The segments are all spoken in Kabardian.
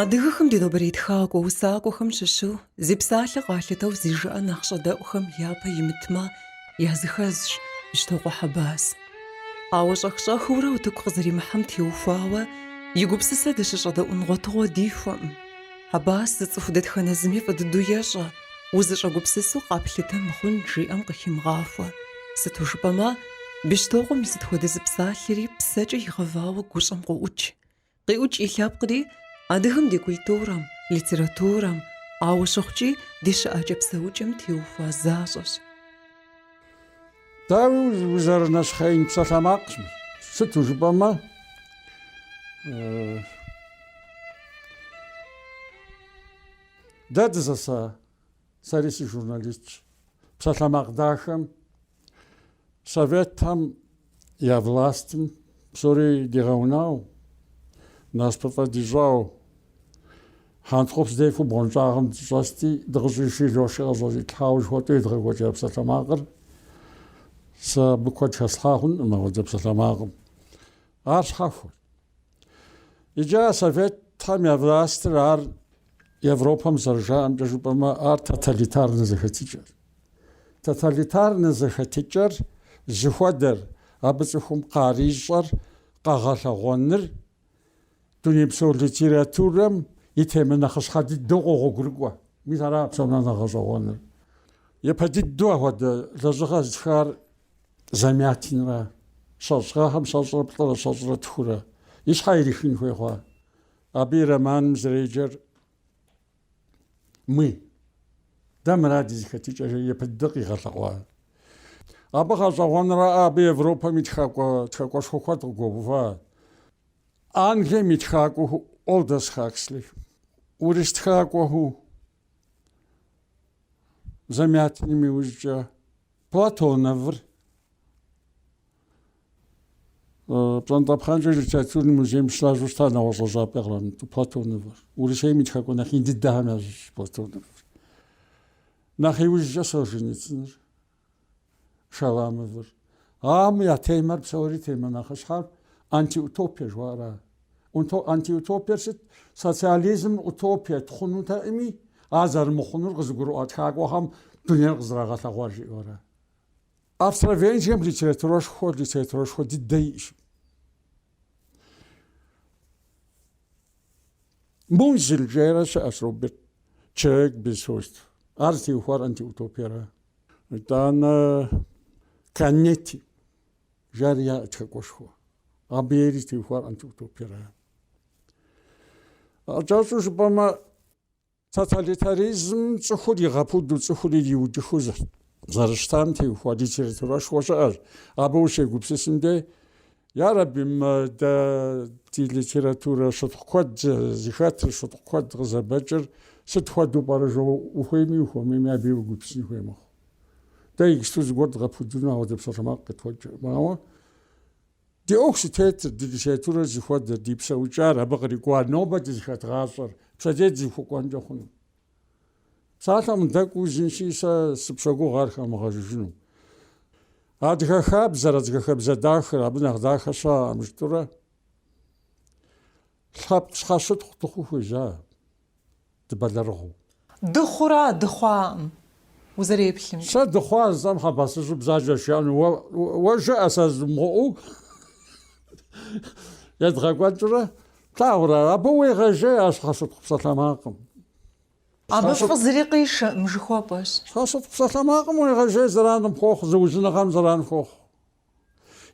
Адыгэхэм ди нобэрей тхакӏуэ усакӏуэхэм щыщу зи псалъэ къалъытэу зи жыӏэ нэхъ щӏэдэӏухэм япэ имытмэ, языхэзщ Бещтокъуэ Хьэбас. Ауэ щӏэх-щӏэхыурэ утыку къызэримыхьэм теухуауэ и гупсысэ дыщыщӏэдэӏун гъуэтыгъуэ дихуэкъым. Хьэбас зыцӏыху дэтхэнэ зыми фӏы дыдэу ещӏэ, узыщӏэгупсысу къэплъытэ мыхъун жиӏэм къыхимыгъахуэ. Сыту жыпӏэмэ, Бещтокъуэм и сыт хуэдэ зы псалъэри псэкӏэ игъэвауэ гущӏэм къоӏукӏ. Къиӏукӏ и лъэпкъри адыгэм ди культурэм, литературэм, ауэ щыхъукӏи ди щыӏэкӏэ-псэукӏэм теухуа защӏэщ. Дауи, узэрынэщхъеин псалъэмакъщ. Сыту жыпӏэмэ, дэ дызэса сэри сыжурналистщ. Псалъэмакъ дахэм Советхэм я властым псори дигъэунау, насыпыфӏэ дищӏау, хьэнтхъупс дефу бгъуэнщӏагъым дыщӏэсти, дыкъыщӏиши лошкӏэ къытӏэщӏилъхьауэ жыхуэтӏу едгъэкӏуэкӏа псалъэмакъыр сэ абы куэд хэслъхьа хъункъым апхуэдэ псалъэмакъым. Ар щхьэхуэт. Иджы а Советхэм я властыр ар Европэм зэрыжаӏэмкӏэ жыпӏэмэ, ар тоталитарнэ зэхэтыкӏэр. Тоталитарнэ зэхэтыкӏэр зыхуэдэр, абы цӏыхум къарищӏэр, къэгъэлъэгъуэныр дунейпсо литературэм и темэ нэхъыщхьэ дыдэу къогъуэгурыкӏуэ. Мис ара псом нэхъ нэхъ гъэщӏэгъуэныр. Япэ дыдэу апхуэдэ лэжьыгъэ зытхар Замятинра, щэщӏ гъэхэм щэщӏрэ плӏырэ щэщӏрэ тхурэ и щхьэ ирихын хуей хъуа. Абы и романым зэреджэр «Мы». Дэ мыра ди зэхэтыкӏэр япэ дыдэ къигъэлъэгъуа. Абы гъэщӏэгъуэнрэ абы Европэм и тхакӏуэ тхакӏуэшхуэ куэд къыгуэува. Англием и тхакӏуэу Олдос Хаксли, урыс тхакӏуэу Замятиным иужькӏэ Платоновыр пщӏантӏэпхъэнкӏыу литературный музейм щылажьэу щыта нэгъуэщӏ лэжьапӏи кърамыту Платоновыр. Урысейм и тхакӏуэ нэхъ ин дыдэхэм ящыщ Платоновыр. Нэхъ иужькӏэ Солженицыныр, Шаламовыр. Ам я темэр псори темэ нэхъыщхьэр антиутопия жыхуаӏэра. Антиутопиер сыт? Социализмыр утопиет, хъунутэӏыми, ар зэрымыхъунур къызыгурыӏуа тхакӏуэхэм дунейр къызэрагъэлъэгъуар жиӏэурэ. Австро-Венгрием литературэшхуэ, литературэшхуэ дыдэ иӏщ. Музиль жейрэ щыӏэщ Роберт, «Человек без свойств». Ар зытеухуар антиутопиера. Итӏанэ Канетти. Жари яӏэ тхакӏуэшхуэ. Абы ери зытеухуар антиутопиера. Кӏэщӏу жыпӏэмэ, тоталитаризм цӏыхур игъэпуду, цӏыхур ириудыхыу зэрыщытам теухуа литературэшхуэ щыӏэщ. Абы ущегупсысым деж, ярэби, дэ ди литературэ щытхъу куэд зыхэтыр, щытхъу куэд къызэбэкӏыр сыт хуэдэу пӏэрэ жо ухуейми ухуэмейми абы уегупсысын хуей мэхъу. Дэ иджыпсту зыгуэр дгъэпудыну ауэдэ псалъэмакъ къытхуэкӏыркъым. Ауэ ди ӏуэху зытетыр, ди литературэр зыхуэдэр, ди псэукӏар абы кърикӏуар, нобэ дызыхэт гъащӏэр, пщэдей дызыхуэкӏуэнкӏэ хъуну. Псалъэм дэкӏуэу жысӏэнщи, сэ сыпщогугъ ар хэмыгъэжыжыну. Адыгэ хабзэр, адыгэ хабзэ дахэр, абы нэхъ дахэ щыӏэкъым жытӏэурэ. Лъэпкъ щхьэщытхъу дыхъуу хуежьа дыбэлэрыгъыу. Дыхъура, дыхъуакъым, узэреплъымкӏэ. Сэ дыхъуа жысӏэм Хьэбасыжьыр бзаджэ жиӏэну уэ, уэ жыӏэ сэ жызмыӏэу едгъэкӏуэкӏрэ, плъагъурэ, абы уегъэжей, а щхьэщытхъу псалъэмакъым. Абы фӏы зыри къишэӏым, жыхуэпӏэщ. Щхьэщытхъу псалъэмакъым уегъэжей зэран къыпхуохъу, зыужьыныгъэм зэран хуохъу,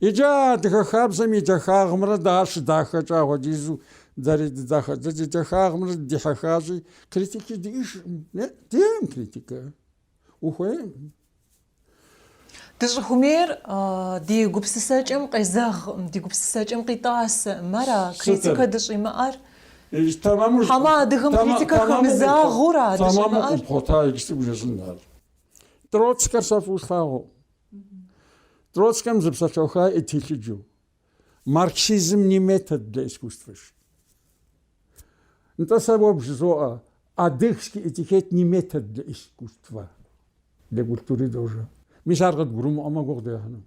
Иджы а адыгэ хабзэм и дахагъымрэ дэ ар щыдахэкӏэ апхуэдизу дэри дыдахэ. Дэ ди дахагъымрэ дыдихьэхащи, критики диӏэжкъым. Е, диӏэм критикэ. Ухуейм. Дыщӏыхуэмейр ди гупсысэкӏэм къезэгъкъым, ди гупсысэкӏэм къитӏасэкъым. Ара критикэ дыщӏимыӏэр? Тэмэму, Хьэмэ адыгэм тэмэ- критикэ тэмэму хэмызагъэу ара тэмэму дыщӏимыӏэр? къыпхъуэта иджы сыгу жэщӏын ар. Троцкэр сэ фӏыуэ солъагъу. Троцкэм зы псалъэуха иӏэ телъыджэу, марксизм не метод для искусства жи. Нтӏэ сэ уэ бжызоӏэ, адыгский этикет не метод для искусства, для культуры тоже. Мис ар къыдгурымыӏуэмэ гугъу дехьыну.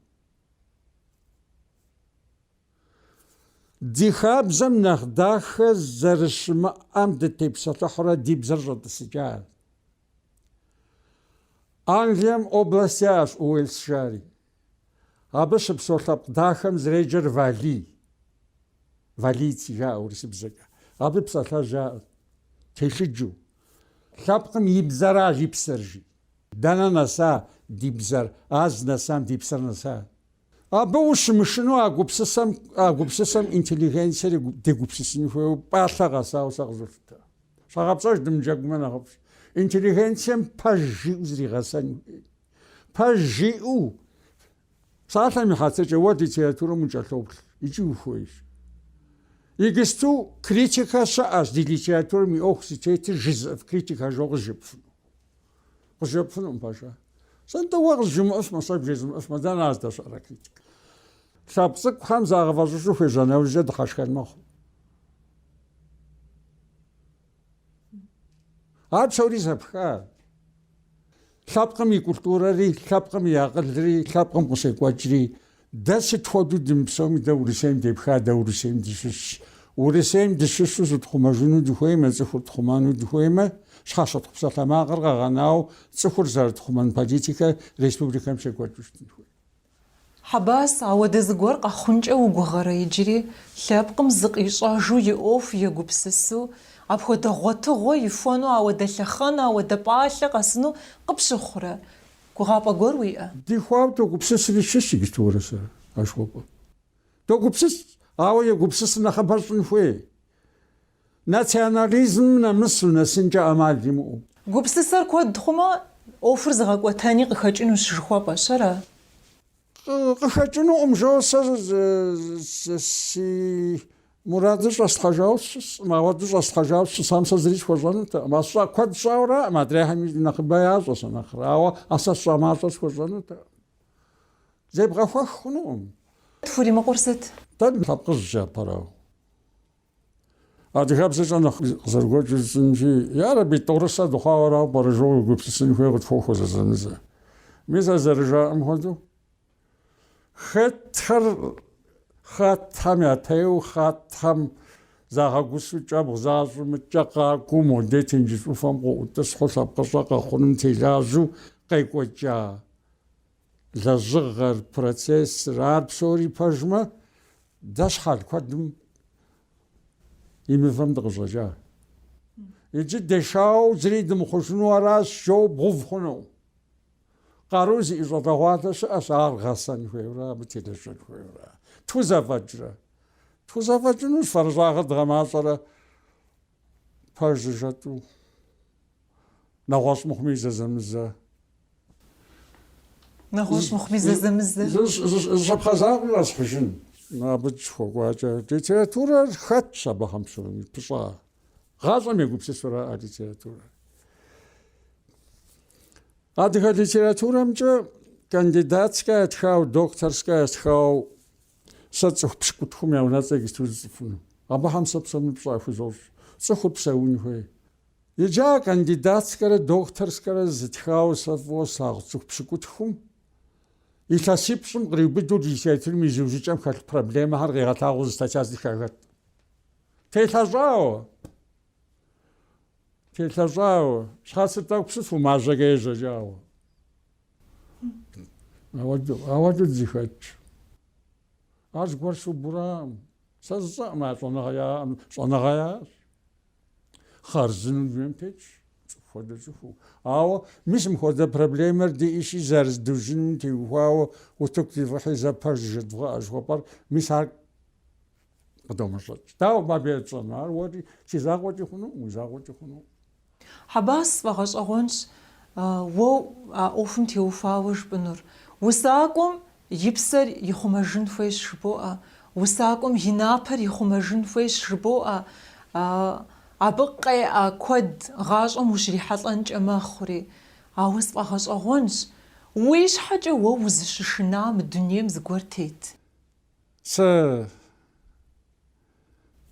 Ди хабзэм нэхъ дахэ зэрыщымыӏэм дытепсэлъыхьурэ ди бзэр щӏэтӏысыкӏащ. Англием область яӏэщ Уэльс жари. Абы щыпсэу лъэпкъ дахэм зэреджэр Валий. Валийцы жаӏэ урысыбзэкӏэ. Абы псалъэжь яӏэ телъыджэу. Лъэпкъым и бзэра и псэр жи. Дэнэ нэса ди бзэр, а зынэсам ди псэр нэса. Абы ущымышынэу а гупсысэм интеллигенцэри дегупсысын хуейуэ пӏалъэ къэсауэ сэ къызолъытэ. Щхьэгъэпцӏэж дымыджэгумэ нэхъыфӏщ. Интеллигенцэм пэж жиӏэу зригъэсэн хуей. Пэж жиӏэу псалъэм и хьэтыркӏэ уэ литературэм укӏэлъоплъ икӏи ухуейщ. Иджысту критикэ щыӏэщ ди литературэм и ӏуэху зытетыр жызыӏэф критикэ жо къызжепӏэфыну. Къызжепӏэфынукъым пэжа. Сэ-нтӏэ уэ къызжымыӏэу сымэ, сэ бжезмыӏэфмэ, дэнэ здэщыӏэр критикэ? Лъэпкъ цӏыкӏухэм загъэфӏэщӏыжу хуежьа нэужькӏэ дыхьэшхэн мэхъу. Ар псори зэпха. Лъэпкъым и культурэри, лъэпкъым и акъылри, лъэпкъым къыщекӏуэкӏри. Дэ сыт хуэдэу дымыпсэуми дэ Урысейм депха, дэ Урысейм дыщыщщ. Урысейм дыщыщу зытхъумэжыну дыхуеймэ, цӏыхур тхъумэну дыхуеймэ, щхьэщытхъу псалъэмакъыр къэгъэнауэ цӏыхур зэрытхъумэн политикэр республикэм щекӏуэкӏыу щытын хуей. Хьэбас, ауэдэ зыгуэр къэхъункӏэ угугъэрэ иджыри, лъэпкъым зыкъищӏэжу и ӏуэху егупсысу, апхуэдэ гъуэтыгъуэ ихуэну ауэдэ лъэхъэн, ауэдэ пӏалъэ къэсыну къыпщыхъурэ? Гугъапӏэ гуэр уиӏэ? Дихуауэ догупсысри дыщысщ иджыпсту уэрэ сэрэ жыхуэпӏэм. Догупсыс, ауэ егупсысыр нэхъыбэр щӏын хуей, национализмым нэмысу, нэсынкӏэ ӏэмал имыӏэу. Гупсысэр куэд хъумэ, ӏуэхур зыгъэкӏуэтэни къыхэкӏынущ жыхуэпӏэщ, ара? Къыхэкӏынукъым жо сэ си мурадыр щӏэслъхьэжауэ сыщысӏым, ауэду щӏэслъхьэжауэ сыщысам сэ зыри схуэщӏэнутэкъым. А сщӏа куэд сщӏауэраӏым, адрейхэми нэхъыбэ ящӏэ сэ нэхърэ, ауэ а сэ сщӏа мащӏэр схуэщӏэнутэкъым. Зебгъэхуэх хъунукъым. Тхуримыкъур сыт? Дэ лъэпкъыжькӏэ апэрауэ? Адыгэбзэкӏэ нэхъ къызэрыгуэкӏыу жысӏэнщи, ярэби, тӏорысэ дыхъуауэрауэ пӏэрэ жоу уегупсысын хуей къытхуохуэ зэзэмызэ. Мис зэрыжаӏэм хуэдэу, хетхэр хьэтхэм ятеу, хьэтхэм загъэгусу кӏэбгъу защӏымыкӏэ къакӏуэу моде тенджыз ӏуфэм къыӏутӏысхьу лъэпкъыщӏэ къэхъуным телажьэу къекӏуэкӏа. Лэжьыгъэр, процессыр, ар псори пэжмэ, дэ щхьэл куэдым и мывэм дыкъыщӏэкӏа. Иджы дешауэ зыри дымыхъужыну аращ, жоу бгъэув хъуну. Къару зиӏэ щӏалэгъуалэ щыӏэщ, ар гъэсэн хуейуэра, абы телэжьэн хуейуэра. Тхузэфӏэкӏрэ? Тхузэфӏэкӏынущ, фэрыщӏагъыр дгъэмащӏэрэ пэжу жэтӏу. нэгъуэщӏ мыхъуми зэзэмызэ. Нэгъуэщӏ мыхъуми зэзэмызэ. Зы щапхъэ закъуэ къэсхьыжын. Абы дыщыхуэкӏуакӏэ литературэр хэтщ абыхэм псоми пыщӏа. Гъащӏэм егупсысурэ а литературэр. Адыгэ литературэмкӏэ кандидатскэ ятхауэ, докторскэ ятхауэ сэ цӏыху пщыкӏутхум я унэцӏэ иджыпсту жысӏэфыну. Абыхэм сэ псоми пщӏэ яхузощӏ. Цӏыхур псэун хуей. Иджы а кандидатскэрэ докторскэрэ зытхауэ сэ фӏыуэ слъагъу цӏыху пщыкӏутхум илъэсипщӏым къриубыдэу ди театрым и зиужьыкӏэм хэлъ проблемэхэр къигъэлъагъуэу зы статья зытха хэткъым. Телъэщӏауэ! Телъэщӏауэ! Щхьэцыр тӏэкӏу псыфу мажьэкӏэ ежьэкӏауэ. Ауэду, ауэду дызыхэтщ. Ар зыгуэр сыубу аракъым. Сэ жысӏэкъым а щӏэныгъэ яӏэм, щӏэныгъэ яӏэщ. хъарзынэу дунейм тетщ, цӏыху хуэдэ цӏыхуу. Ауэ мис мыхуэдэ проблемэр диӏэщи, зэрызыдужьыным теухуауэ утыку дивгъыхьи зэ пэж жыдывгъэӏэ жыхуэпӏэр, мис ар къыдомэщӏэкӏ. Дауэ мыбы етщӏэну? Ар уэри си закъуэкӏи хъунукъым, уи закъуэкӏи хъунукъым. Хьэбас сфӏэгъэщӏэгъуэнщ уэ а ӏуэхум теухуауэ жыпӏэнур. Усакӏуэм И псэр ихъумэжын хуейщ жыбоӏэ, усакӏуэм и напэр ихъумэжын хуейщ жыбоӏэ, абы къеӏэ куэд гъащӏэм ущрихьэлӏэнкӏэ мэхъури. Ауэ сфӏэгъэщӏэгъуэнщ, уи щхьэкӏэ уэ узыщышынэ мы дунейм зыгуэр тет. Сэ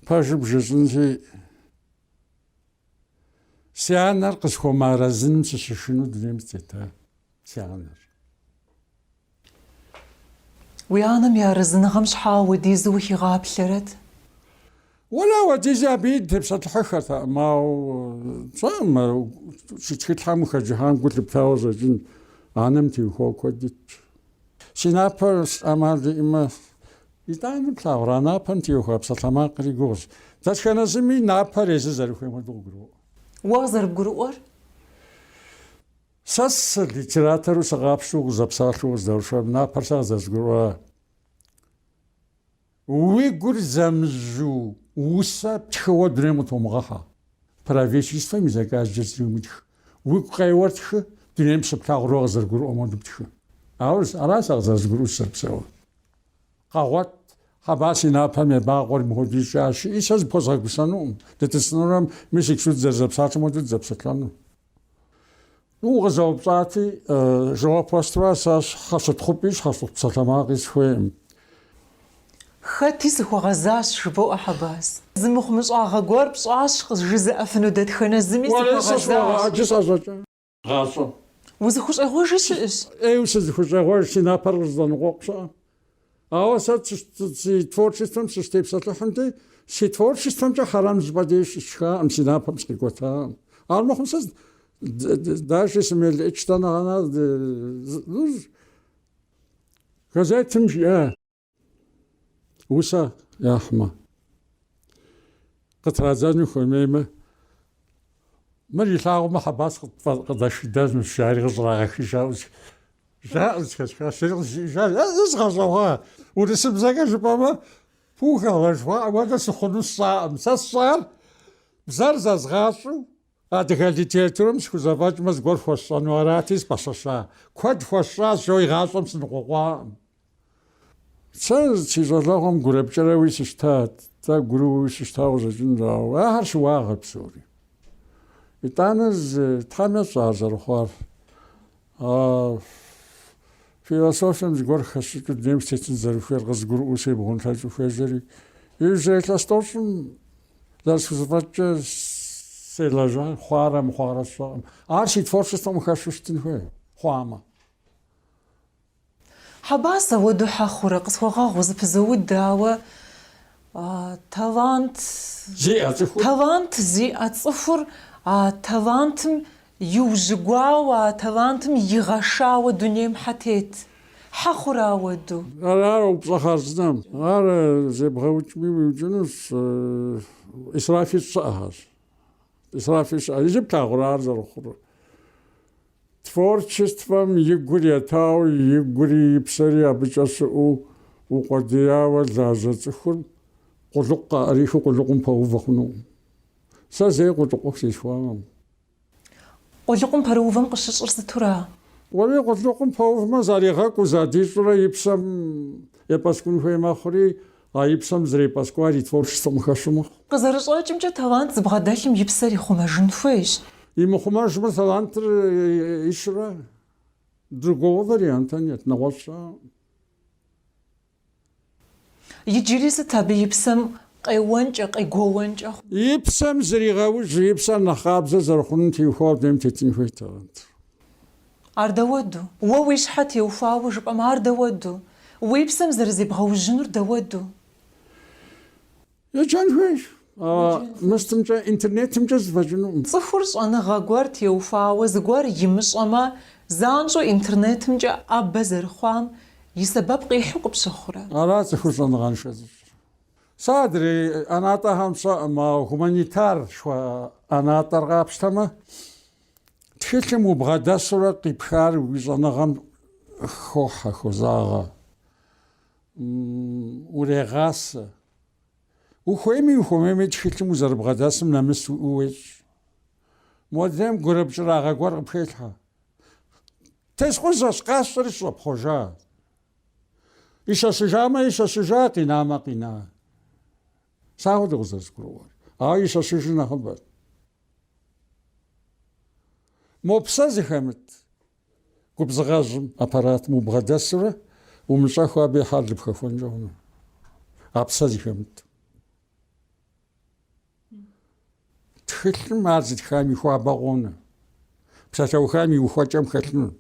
пэжыр бжесӏэнщи, Си анэр къысхуэмыарэзыным сыщышыну дунейм сытетащ си анэр? Уи анэм и арэзыныгъэм щхьэ уэдизу ухигъаплъэрэт? Уэла уэдизи абы дытепсэлъыхьыххэртэкъым, ауэ сщӏэркъым ар си тхылъхэм укъыхэджыхьам гу лъыптауэ къыщӏэкӏынщ, анэм теухуауэ куэд итщ. Си напэр сэ ӏэмал иӏэмэ, Итӏани, плъагъура напэм теухуа псалъэмакъри гугъущ. Дэтхэнэ зыми напэр езыр зэрыхуейм хуэдэу къыгуроӏуэ. Уэ къызэрыбгурыӏуэр? Сэ сэ литературу сыгъапщэу къызэпсалъэу къыздэушам напэр сэ къызэрызгурыӏуа Уи гур зэмыжьу усэ птхыуэ дунейм къытумыгъэхьэ, правительствэм и заказкӏэ зыри умытх, уигу къеуэр тхы, дунейм щыплъагъур къызэрыбгурыӏуэм хуэдэу тхы. Ауэ ара сэ къызэрызгурыӏуэу сызэрыпсэур? Къэгъуэт, Хьэбас и напэм ебакъуэри мыхуэдэ ищӏащ жыӏи, сэ зыпхуэзгъэгусэнукъым, дытӏысынурэм, мис иджы дызэрызэпсалъэм хуэдэу дызэпсэлъэну. Укъызэупщӏати, жэуап уэсту аращ, Сэ щхьэщытхъупӏи щхьэщыт псалъэмакъи сыхуейкъым. Хэти сыхуэгъэзащ, жыбоӏэ Хьэбас. Зы мыхъумыщӏагъэ гуэр пщӏащ, къызжызыӏэфыну дэтхэнэ зыми сыхуэгъэзащ. Уэри сэ сщӏогъэ, иджы сӏэщӏэкӏа. гъащӏэ. Узыхущӏегъуэжи щыӏэщ. ӏейуэ сызыхущӏегъуэж, си напэр къызэзэныкъуэкъу щыӏэм. Ауэ сэ си творчествэм сыщытепсэлъыхьынти, си творчествэмкӏэ хьэрам зыщӏыпӏэ дей щысшхакъым, си напэм сыкъикӏуэтакъым. Армыхъум сэ даже сымелыӏычтэ нэгъанэ. Газетым жиӏэ. Усэ яхьмэ, къытрадзэну хуэмеймэ, мыр илъагъумэ Хьэбас къыдэшхыдэнущ, жари къыщӏрагъэхыжауэ жаӏэу зыхэсхащ, зыри къызжиӏэжа, е згъэщӏэгъуа, урысыбзэкӏэ жыпӏэмэ, пугало жыхуаӏэм хуэдэ сыхъуну сщӏаӏым, сэ сщӏар бзэр зэзгъащӏэу, Адыгэ литературэм схузэфӏэкӏмэ зыгуэр хуэсщӏэну арати, сыпэщэща. Куэд хуэсщӏащ жысӏэу игъащӏэм сыныкъуэкъуакъым. Сэ си щӏалэгъуэм гурыпкӏэрэуи сыщтат, тӏэгуруи сыщтауэ къыщӏэкӏынущ, ауэ ахэр щыуагъэ псори. Итӏанэ зы Тхьэм ещӏэ ар зэрыхъуар. А философием зыгуэр хэсщӏыкӏыу дунейм сытетын зэрыхуейр къызгурыӏуэу себгъунлъэкӏыу хуежьэри, иужьрей илъэс тӏощӏым зэрысхузэфӏэкӏкӏэ селэжьа, хъуарэ мыхъуарэ сщӏэкъым. Ар си творчествэм хэщу щытын хуей, хъуамэ. Хьэбас ауэду хьэ хъурэ, къысхуэгъэгъу зэпызоуд, ауэ талант зиӏэ цӏыхур а талантым иужьыгуауэ, а талантым игъэшауэ дунейм хьэ тет. Хьэ хъурэ ауэду. Ар упщӏэ хъарзынэм. Ар зебгъэукӏми уиукӏынущ. Исраф ищӏ щыӏэхэщ. Исраф ищӏ щыӏэ. Иджы плъагъурэ ар зэрыхъурыр. Творчествэм и гур етауэ, и гури и псэри абыкӏэ щыӏэу укъуэдияуэ лажьэ цӏыхур къулыкъу къаӏэрихыу къулыкъум пэувэ хъунукъым. Сэ зэи къулыкъу сылъыхъуакъым. Къулыкъум пэрыувэм къыщыщӏыр сытура? Уэри къулыкъум пэувмэ, заригъэкӏуу, задищӏурэ и псэм епӏэскӏун хуей мэхъури, А и псэм зэрепӏэскӏуар и творчествэм хэщу мэхъу. Къызэрыщӏэкӏымкӏэ, талант зыбгъэдэлъым и псэр ихъумэжын хуейщ. Имыхъумэжмэ, талантыр ищрэ другого варианта нет, нэгъуэщӏрэ. Иджыри сыт абы и псэм къеуэнкӏэ, къегуэуэнкӏэ? И псэм зригъэужь, и псэр нэхъ къабзэ зэрыхъунум теухуауэ дунейм тетын хуейт талантыр. Ар дауэду? Уэ уи щхьэ теухуауэ жыпӏэмэ, ар дауэду? Уи псэм зэрызебгъэужьынур дауэду? Еджэн хуейщ, ауэ мыстымкӏэ интернетымкӏэ зэфӏэкӏынукъым. Цӏыхур щӏэныгъэ гуэр теухуауэ зыгуэр имыщӏэмэ, занщӏэу интернетымкӏэ ӏэбэ зэрыхъуам и сэбэп къихьу къыпщыхъурэ? Ара цӏыхур щӏэныгъэншэ зыщӏыр. Сэ адрей ӏэнатӏэхэм сщӏэкъым, ауэ гуманитар жыхуаӏэ ӏэнатӏэр къапщтэмэ, Тхылъым убгъэдэсурэ къипхар уи щӏэныгъэм хохьэ, хозагъэ, урегъасэ. Ухуейми ухуэмейми тхылъым узэрыбгъэдэсым нэмыс уиӏэу уещӏ. Модрейм гурыпкӏырагъэ гуэр къыпхелъхьэ. Тескъузэщ, къасщӏэри сыщӏэпхъуэжа. Ищэщыжамэ ищэщыжа, къинамэ къина. Сэ апхуэдэу къызэрызгурыӏуэр. Ауэ ищэщыжыр нэхъыбэр. Мо псэ зыхэмыт губзыгъэжьым аппаратым убгъэдэсурэ умыщӏэххэу абы и хьэлыр пхэхуэнкӏэ хъуну? А псэ зыхэмыт. Тхылъым ар зытхам и хуабэ къонэ. Псалъэухам и ухуэкӏэм хэлъыну.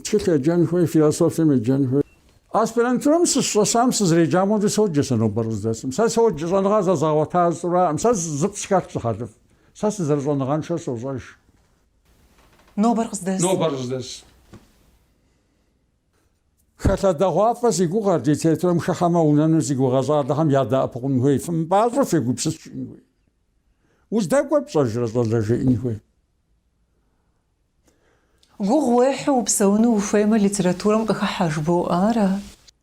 Тхылъ еджэн хуей, философием еджэн хуей. Аспирантурэм сыщыщӏэсам сызреджам хуэдэу соджэ сэ нобэр къыздэсым. Сэ соджэ, щӏэныгъэ зэзгъэгъуэта зысщӏу аракъым. Сэ зы схэлъщ зы хьэлыфӏ. Сэ сызэрыщӏэныгъэншэр сощӏэж. Нобэр къыздэс. Хэлъэдэгъуафӏэ зи гугъэр литературэм хыхьэмэ унэну зи гугъэ щӏалэхэм ядэӏэпыкъун хуей, фымыпӏащӏэу фегупсыс жиӏэн хуей. Уздэкӏуэр пщӏэжрэ щӏалэ жеӏэн хуей. Гугъу уехьу упсэуну ухуеймэ, литературэм къыхыхьэ жыбоӏэ ара?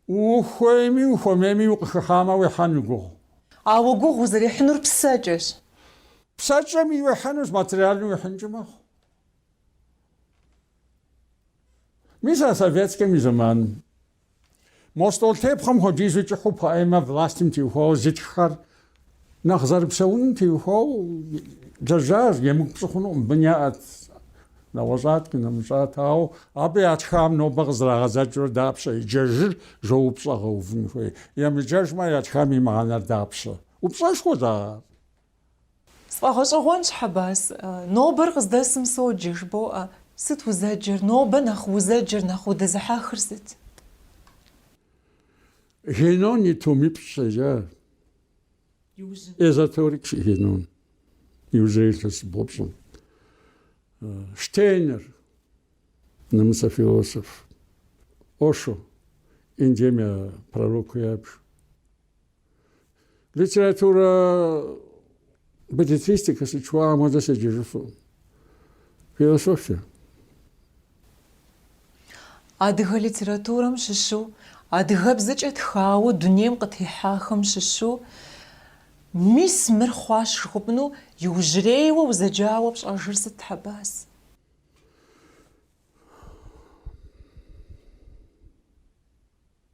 Ухуейми, ухуэмейми укъыхыхьамэ, уехьэну гугъу. Ауэ гугъу узэрехьынур псэкӏэщ. Псэкӏэми уехьэнущ, материальнэ уехьынкӏи мэхъу. Мис а советскэм и зэманым. Мо стӏолтепхъуэм хуэдизу кӏыхьу поэмэ властым теухуауэ зытххэр нэхъ зэрыпсэуным теухуауэ лэжьащ, емыкӏу пщӏы хъунукъым, бын яӏэт, нэгъуэщӏат, къинэмыщӏат, ауэ абы ятхам нобэ къызэрагъэдзэкӏыурэ дапщэ еджэжыр жо упщӏэ гъэувын хуей, емыджэжмэ ятхам и мыхьэнэр дапщэ? Упщӏэшхуэщ ар. Сфӏэгъэщӏэгъуэнщ, Хьэбас, нобэр къыздэсым соджэ, жыбоӏэ, сыт узэджэр, нобэ нэхъ узэджэр, нэхъ удызыхьэхыр сыт? Генон и томипщӏ седжа, эзотерик Генон, иужьрей илъэсибгъу-пщӏым. Штейнер, нэмыцэ философ, Ошо, Индием я пророкыу ябж, Литературэ беллетристикэ сыт жыхуаӏэм хуэдэ седжэжыфу. Философия. Адыгэ литературэм щыщу, адыгэбзэкӏэ тхауэ дунейм къытехьахэм щыщу, мис мыр хъуащ жыхуэпӏэну иужьрейуэ узэджауэ пщӏэжыр сыт, Хьэбас?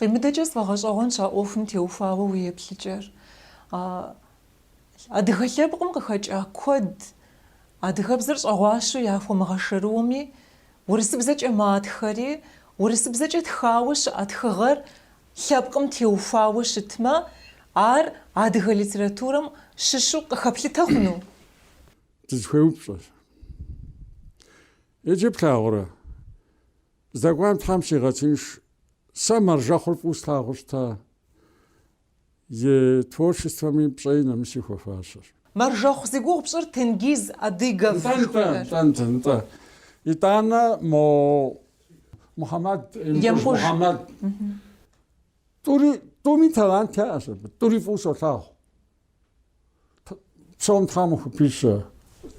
Къимыдэкӏэ сфӏэгъэщӏэгъуэнщ а ӏуэхум теухуауэ уи еплъыкӏэр. Адыгэ лъэпкъым къыхэкӏа куэд адыгэбзэр щӏэгъуащэу яхуэмыгъэшэрыуми, урысыбзэкӏэ матхэри, урысыбзэкӏэ тхауэ щыӏэ тхыгъэр лъэпкъым теухуауэ щытмэ, ар адыгэ литературэм щыщу къыхэплъытэ хъуну? Дызыхуей упщӏэщ. Иджы плъагъурэ? Здэкӏуам Тхьэм щигъэтынш. Сэ Мэржэхъур фӏыу слъагъуу щыта и творчествэми пщӏэи нэмыси хуэфащэщ. Мэржэхъу зи гугъу пщӏыр Тенгиз Адыгов жыхуаӏэр? Нтӏэ, нтӏэ, нтӏэ, нтӏэ. Итӏанэ мо Мухьэмэд, Емыкӏуж Мухьэмэд, тӏури, тӏуми талант яӏэщ абы, тӏури фӏыу солъагъу. Псэум Тхьэм хупищэ,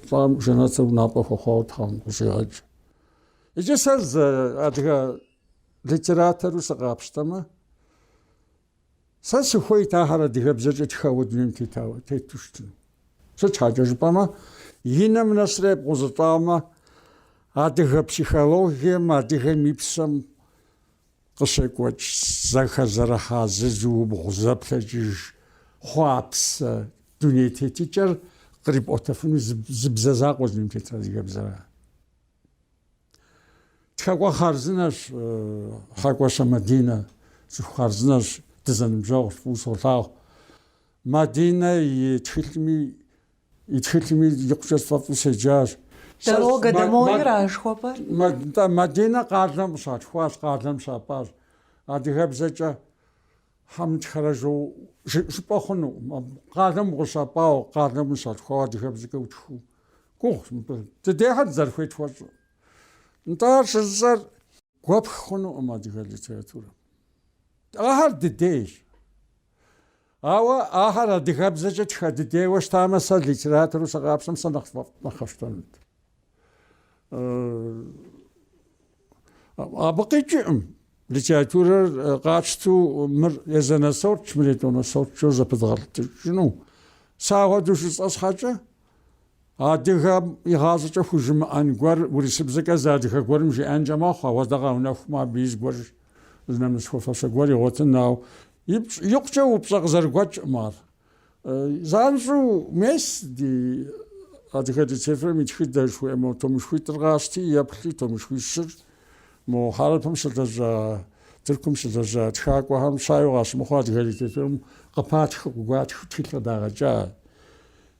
лӏам жэнэтыр унапӏэ хуэхъуауэ Тхьэм къыщӏигъэкӏ. Иджы сэ зы адыгэ литератору сыкъапщтэмэ, сэ сыхуейт ахэр адыгэбзэкӏэ тхэуэ дунейм тетауэ тету щытын. Сыт щхьэкӏэ жыпӏэмэ, и нэм нэсрэ епкъузылӏамэ, адыгэ психологием, адыгэм и псэм Къыщекӏуэкӏ зэхэзэрыхьа зызыубгъу зэплъэкӏыж хъуапсэ дуней тетыкӏэр кърипӏуэтэфыну зы бзэ закъуэ дунейм тетыр адыгэбзэра. Тхэкӏуэ хъарзынэщ Хьэкӏуащэ Мадинэ, цӏыху хъарзынэщ, дызэныбжьэгъущ, фӏыуэ солъагъу. Мадинэ и тхылъми И тхылъми икъукӏэ сфӏэфӏу седжащ. Дорога домой-ра жыхуэпӏэр? Нтӏэ, Мадинэ къалэм къыщалъхуащ, къалэм щапӏащ. Адыгэбзэкӏэ щхьэ мытхэрэ жоуэ жыпӏэ хъунукъым. Къалэм укъыщапӏауэ, къалэм ущалъхуауэ адыгэбзэкӏэ утхыу? Гугъущ мыбы. Дыдейхэр дызэрыхуей тхуэщӏу. Нтӏэ, ар щыжысӏэр гуэпх хъунукъым адыгэ литературэм. Ахэр дыдейщ. Ауэ ахэр адыгэбзэкӏэ тхэ дыдейуэ щытамэ, сэ литератору сыкъапщтэм сэ нэхъ къэсщтэнут. Абы къикӏыркъым литературэр къатщту мыр езанэ сортщ, мыр етӏуанэ сортщ жоуэ зэпыдгъэлтыкӏыну. Сэ ахуэдэу жысӏэ щхьэкӏэ, Адыгэм игъащӏэкӏэ хужымыӏэн гуэр урысыбзэкӏэ зы адыгэ гуэрым жиӏэнкӏэ мэхъу, ауэдэ къэунэхумэ, абы и зыгуэр, зы нэмыс хуэфащэ гуэр игъуэтын, ауэ икъукӏэ упщӏэ къызэрыгуэкӏкъым ар. Занщӏэу мес ди адыгэ литературэм и тхыдэ жыхуиӏэ мо томышхуитӏыр къащти, еплъи, томышхуищыр, мо Хьэрыпым щылэжьа, Тыркум щылэжьа тхакӏуэхэм жагъуэ къащымыхъуу адыгэ литературэм къыпатхыу, къыгуатхыу тхылъ къыдагъэкӏа.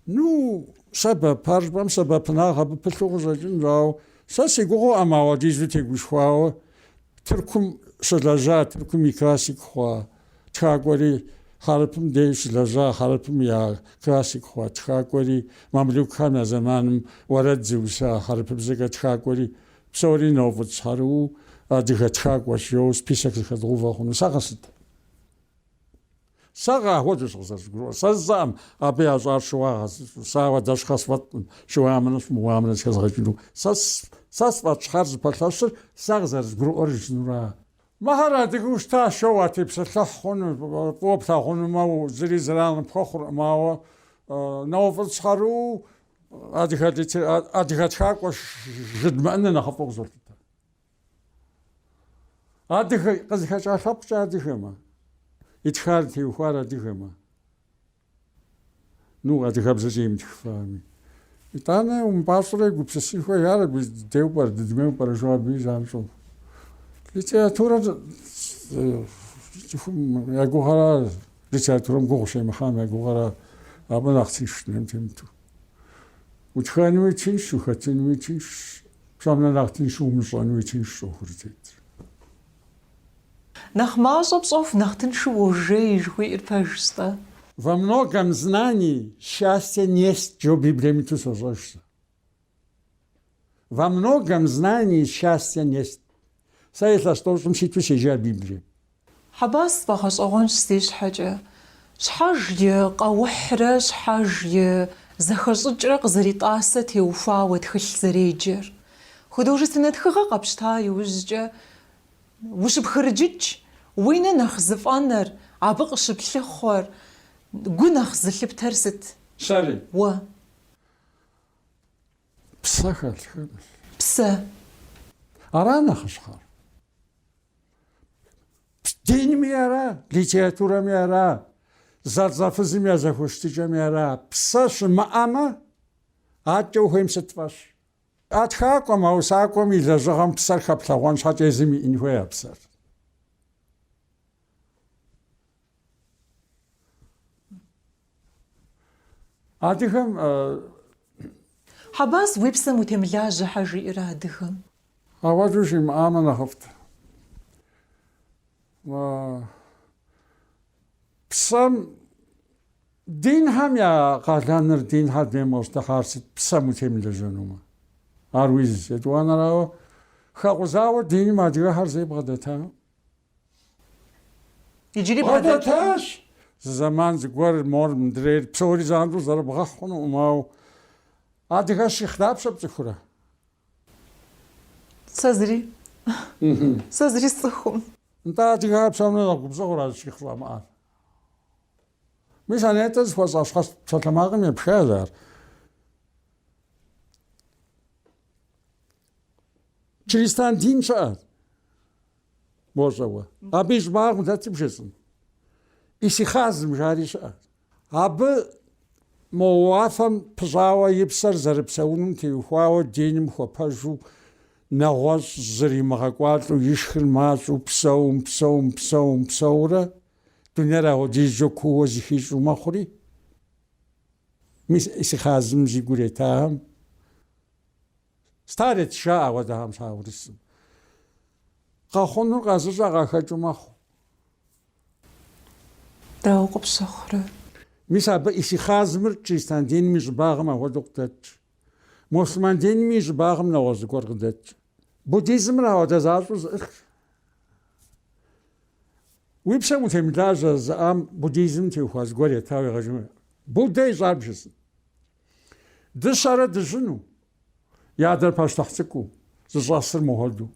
Ну, сэбэп, ар жыпӏэм сэбэпынагъ абы пылъу къыщӏэкӏынщ, ауэ сэ си гугъэӏым ауэдизу тегушхуауэ Тыркум щылэжьа, Тыркум и классик хъуа тхакӏуэри, Хьэрыпым дей щылэжьа, Хьэрыпым я классик хъуа тхакӏуэри, мамлюкхэм я зэманым уэрэд зыуса хьэрыпыбзэкӏэ тхакӏуэри, псори нэуфӏыцӏщхьэрыуэу адыгэ тхакӏуэщ, жэуэ список зыхэдгъувэ хъуну, сэ къэсыт? Сэ къахуэдэщ къызэрызгурыӏуэр. Сэ сщӏэӏым абы ящӏар щыуагъэ зыщӏу. Сэ ауэдэ щхьэ сфӏэткъым щыуамынэ щымыуамынэ зыхэзгъэкӏыну. Сэ сэ сфӏэт щхьэр зыпэлъэщыр сэ къызэрызгурыӏуэр жызынура? Мыхэр адыгэу щытащ жоу уатепсэлъыхь хъуну, фӏыуэ плъагъунумэ, зыри зэран пхуэхъуркъым, ауэ нэуфӏыцӏщхьэрыуэу адыгэ тхакӏуэ жыдмыӏэныр нэхъыфӏу къызолъытэ. Адыгэ къызыхэкӏа лъэпкъкӏэ адыгэмэ, итхар теухуар адыгэмэ, ну, адыгэбзэкӏэ имытхыфами. Итӏанэ умыпӏащӏэрэ гупсысын хуей, ар абы дыдеу пӏэрэ, дыдмеу пӏэрэ жо абы занщӏэу. Литературэр цӏыхум я гугъэра, литературэм гугъу щемыхьам я гугъэра, абы нэхъ тынш дунейм темыту. Утхэнуи тынш, ухэтынуи тынш, Псом нэхъ нэхъ тыншу умыщӏэнуи тыншщ ӏуэхур тетыр. Нэхъ мащӏэ пщӏэху, нэхъ тыншу уожей, жыхуиӏэр пэжщ-тӏэ. Во многом знании счастья несть, жо Библием иту сощӏэж сэ. Во многом знании счастья несть. Сэ илъэс тӏощӏым ситу сежьа Библием. Хьэбас, сфӏэгъэщӏэгъуэнщ си щхьэкӏэ. Щхьэж и къэухьрэ щхьэж и зэхэщӏыкӏрэ къызэритӏасэ теухуауэ тхылъ зэреджэр. Художественнэ тхыгъэ къэпщта иужькӏэ ущыпхырыджыкӏ, уи нэ нэхъ зыфӏэнэр, абы къыщыплъыхъуэр, гу нэхъ зылъыптэр сыт? Сэри? Уэ. Псэ хэлъхэмэ. Псэ. Ара нэхъыщхьэр? Динми ара, литературэми ара, зэлӏзэфызым я зэхущытыкӏэми ара, псэ щымыӏэмэ, адэкӏэ ухуейм сыт фӏэщ. А тхакӏуэм, а усакӏуэм и лэжьыгъэм псэр хэплъэгъуэн щхьэкӏэ езым иӏэн хуей а псэр. Адыгэм э, Хьэбас, уи псэм утемылажьэ, щхьэ жиӏэрэ адыгэм? Ауэдэу жимыӏамэ нэхъыфӏт. А, Псэм динхэм я къалэныр динхэр дунейм къыщӏытехьар сыт псэм утемылэжьэнумэ. Ар и зыщ, етӏуанэрауэ хэкъузауэ диным адыгэхэр зэи бгъэдэтакъым. Иджыри бгъэдэту. Бгъэдэтащ. Зы зэман зыгуэр мор мыдрейр псори занщӏэу зэрыбгъэхь хъунукъым, ауэ адыгэ щихъ дапщэ пцӏыхурэ? Сэ зыри. Сэ зыри сцӏыхум. Нтӏэ, адыгэхэр псом нэхъ губзыгъэу ара щихъ щӏамыӏар? Мис Анетэ зыхуэсӏа щхьэц псалъэмакъым епхащ ар. Чристан дин щыӏэ. Бощӏэ уэ. Абы и щӏыбагъым дэтыр бжесӏэн. Исихазым жари щыӏэ. Абы мо уафэм пыщӏауэ и псэр зэрыпсэунум теухуауэ диным хуэпэжу нэгъуэщӏ зыримыгъэкӏуалӏэу ишхыр мащӏэу псэум, псэум, псэум, псэурэ дунейр ахуэдизкӏэ куууэ зыхищӏу мэхъури, мис исихазым зи гур етахэм Старец жаӏэ ахуэдэхэм щхьа урысым. Къэхъунур къэзыщӏэ къахэкӏыу мэхъу. Дауэ къыпщыхъурэ? Мис абы Исихазмыр чристан диным и щӏыбагъым ахуэдэу къыдэтщ. Муслъыман динми и щӏыбагъым нэгъуэщӏ зыгуэр къыдэтщ. Буддизмыр ахуэдэ защӏэу зыӏыхьщ. Уи псэм утемылажьэ зы ӏэм буддизмым теухуа зыгуэр етауэ егъэжыну. Буддэ ищӏар бжесӏэн. Дыщэрэ дыжьыну, и адэр пащтыхь цӏыкӏуу, зыщӏэсыр мыхуэду.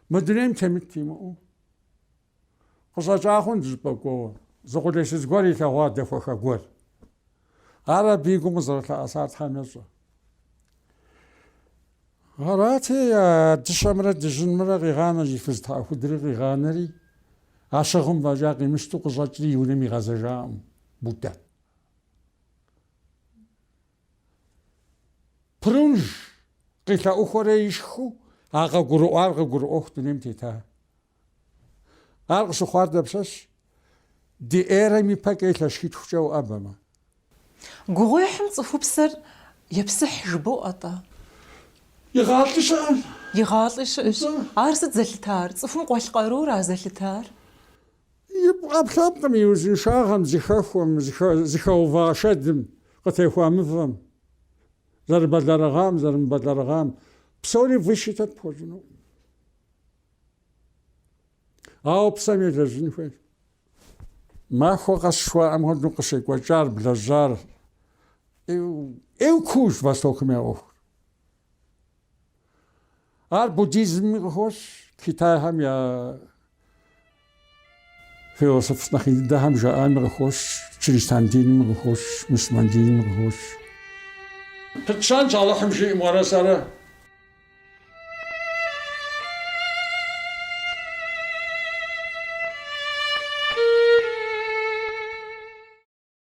Мы дунейм темыт имыӏэу. Къыщӏэкӏа хъун зыщӏыпӏэ кӏуэуэ, зы къулейсыз гуэр илъэгъуа дэхуэха гуэр. Ар абы и гум къызэрылъэӏэсар Тхьэм ещӏэ. Арати, дыщэмрэ дыжьынмрэ къигъанэ и фыз тхьэӏухудри къигъанэри, а щыгъым фӏэкӏа къимыщту къыщӏэкӏри и унэм игъэзэжакъым Буддэ. Прунж къилъэӏухуэрэ ишхыу а къыгурыӏуар къыгурыӏуэху дунейм тета. Ар къыщыхъуар дапщэщ? Ди эрэм ипэкӏэ илъэс щитхукӏэ уӏэбэмэ. Гугъуехьым цӏыхупсэр епсыхь жыбоӏэ-тӏэ? Игъалӏи щыӏэм. Игъалӏи щыӏэщ. Ар сыт зэлъытар? Цӏыхум къуэлъ къарура зэлъытар? И ӏэпкълъэпкъым и узыншагъэм, зыхэхуэм, зыхэува шэдым, къытехуа мывэм, зэрыбэлэрыгъам, зэрымыбэлэрыгъам, псори высчитать пхуэщӏынукъым. Ауэ псэм елэжьын хуейщ. Махуэ къэс жыхуаӏэм хуэдэу къыщекӏуэкӏар, блэжьар, ӏейуэ куущ Востокым я ӏуэхур. Ар буддизмми къыхощ, Китайхэм я философ нэхъ ин дыдэхэм жаӏами къыхощ, чристан динми къыхощ, мусульман динми къыхощ. Пытщэнщ Алыхьым жиӏэмэ уэрэ сэрэ.